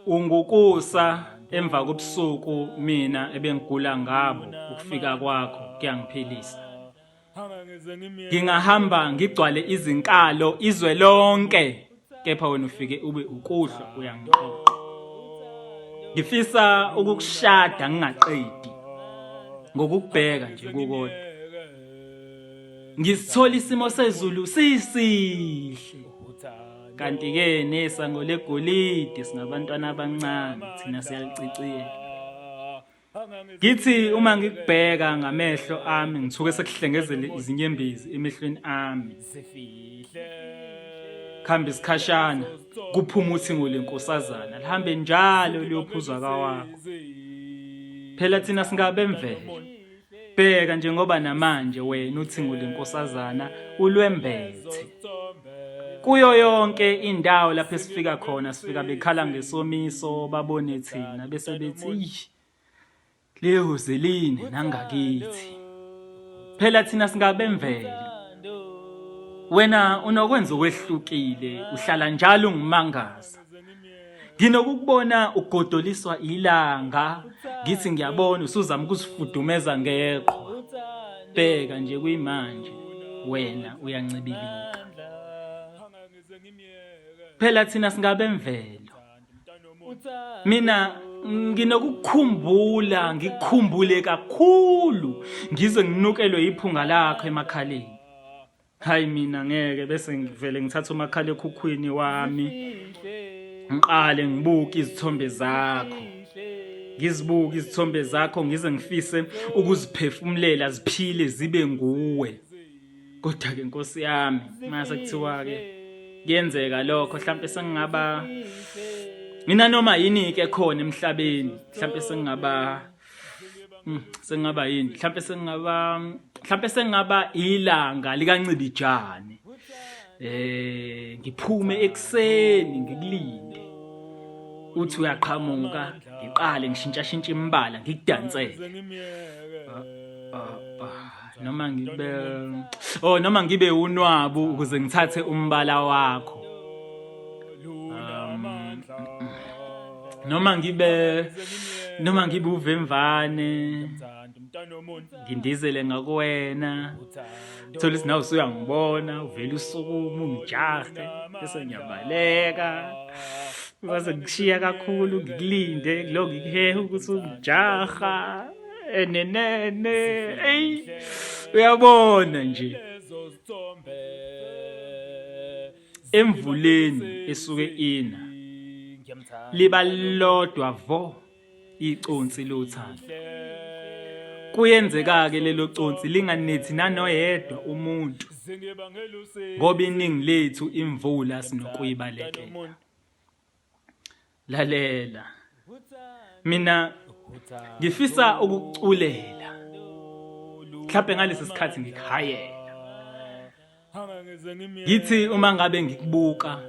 Ungukusa emva kobusuku mina ebengigula ngabo ukufika kwakho kuyangiphilisa ngingahamba ngigcwale izinkalo izwe lonke kepha wena ufike ube ukuhlwa uyangiqoqa ngifisa ukukushada ngingaqedi ngokukubheka nje kukodwa ngisithola isimo sezulu sisihle kanti-ke nesango legolide singabantwana abancane thina siyaliciciyela ngithi uma ngikubheka ngamehlo ami ngithuke sekuhlengezele izinyembezi emehlweni ami kuhamba isikhashana kuphuma uthingo lenkosazana lihambe njalo liyophuzwa kawakho phela thina singabe mvelo Bheka njengoba namanje wena uthingo lenkosazana ulwembethe. Kuyo yonke indawo lapho esifika khona sifika bekhala ngesomiso babone thina bese bethi ish lihuze line nangakithi. Phela thina singabemvelo. Wena unokwenza okwehlukile uhlala njalo ungimangaza. nginokukubona ugodoliswa ilanga ngithi ngiyabona usuzama ukusifudumeza ngeqhwa bheka nje kuyimanje wena uyancibilika phela thina singabe mvelo mina nginokukhumbula ngikhumbule kakhulu ngize nginukelwe iphunga lakho emakhaleni hayi mina ngeke bese ngivele ngithatha umakhalekhukhwini wami ngiqale ngibuke izithombe zakho ngizibuke izithombe zakho ngize ngifise ukuziphefumulela ziphile zibe nguwe kodwa ke nkosi yami mase kuthiwa ke kuyenzeka lokho mhlawumbe sengingaba mina noma yini ke khona emhlabeni mhlawumbe sengingaba Hmm, sengingaba yini mhlawumpe sengingaba mhlawumpe sengingaba ilanga likancibijane eh ngiphume ekuseni ngikulinde uthi uyaqhamuka ngiqale ngishintsha shintsha imbala ngikudansele ah, ah, ah, noma ngibe oh noma ngibe unwabu ukuze ngithathe umbala wakho noma ngibe noma ngibe uvemvane ngindizele ngakuwena thola ukuthi nawe usuyangibona uvele usukume ungijahe bese ngiyabaleka base ngishiya kakhulu ngikulinde ngilo ngikuhehe ukuthi ungijaha enenene eyi uyabona nje emvuleni esuke ina liba lodwa vo iconsi lothando kuyenzeka-ke lelo consi linganethi nanoyedwa umuntu ngoba iningi lethu imvula sinokuyibalekela lalela mina ngifisa ukuculela mhlawumbe ngalesi sikhathi ngikhayela ngithi uma ngabe ngikubuka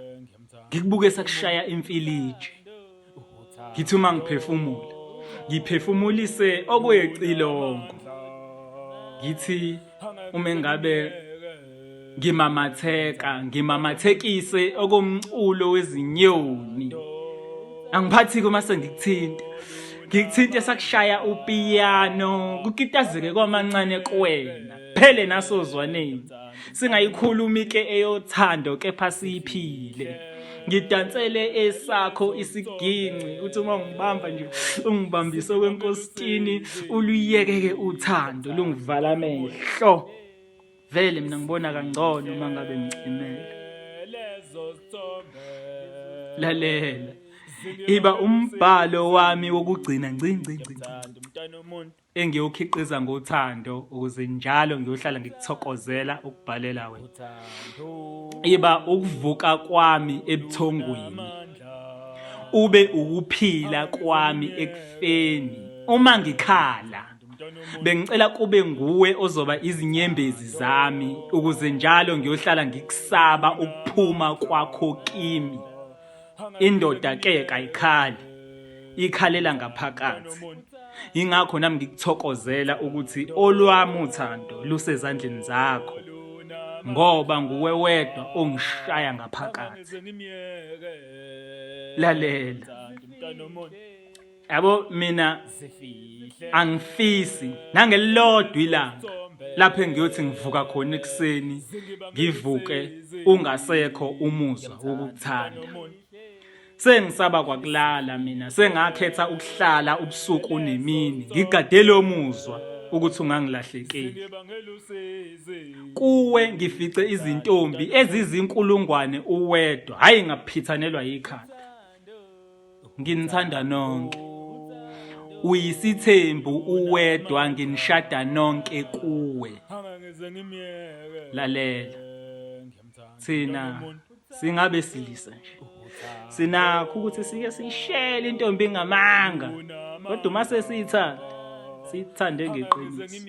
ngikubuke sakushaya imfiliji ngithi uma ngiphefumula ngiphefumulise okwecilongo ngithi uma engabe ngimamatheka ngimamathekise okomculo wezinyoni angiphathi uma sengikuthinta ngikuthinte sakushaya upiyano kukitazeke kwamancane kuwena phele nasozwaneni singayikhulumi ke eyothando kepha siyiphile ngidansele esakho isiginci uthi uma ungibamba nje ungibambise kwenkositini uluyekeke uthando lungivala amehlo vele mina ngibona kangcono uma ngabe ngicimela lalela iba umbhalo wami wokugcina ngci ngci ngci mntana umuntu engiwukhiqiza ngothando ukuze njalo ngiyohlala ngikuthokozela ukubhalela wena iba ukuvuka kwami ebuthongweni ube ukuphila kwami ekufeni uma ngikhala bengicela kube nguwe ozoba izinyembezi zami ukuze njalo ngiyohlala ngikusaba ukuphuma kwakho kimi indoda ke kayikhali ikhalela ngaphakathi ingakho nami ngikuthokozela ukuthi olwami uthando lusezandleni zakho ngoba nguwe wedwa ongishaya ngaphakathi lalela yabo mina angifisi nangelilodwa ilanga lapho engiyothi ngivuka khona ekuseni ngivuke ungasekho umuzwa wokukuthanda sengisaba kwakulala mina sengakhetha ukuhlala ubusuku nemini ngigadele omuzwa ukuthi ungangilahlekeli kuwe ngifice izintombi ezizinkulungwane uwedwa hayi ngaphithanelwa yikhanda nginithanda nonke uyisithembu uwedwa nginishada nonke kuwe lalela thina singabe silisa nje sinakho ukuthi sike sishele intombi ngamanga kodwa uma sesiyithanda siyithande ngeqiniso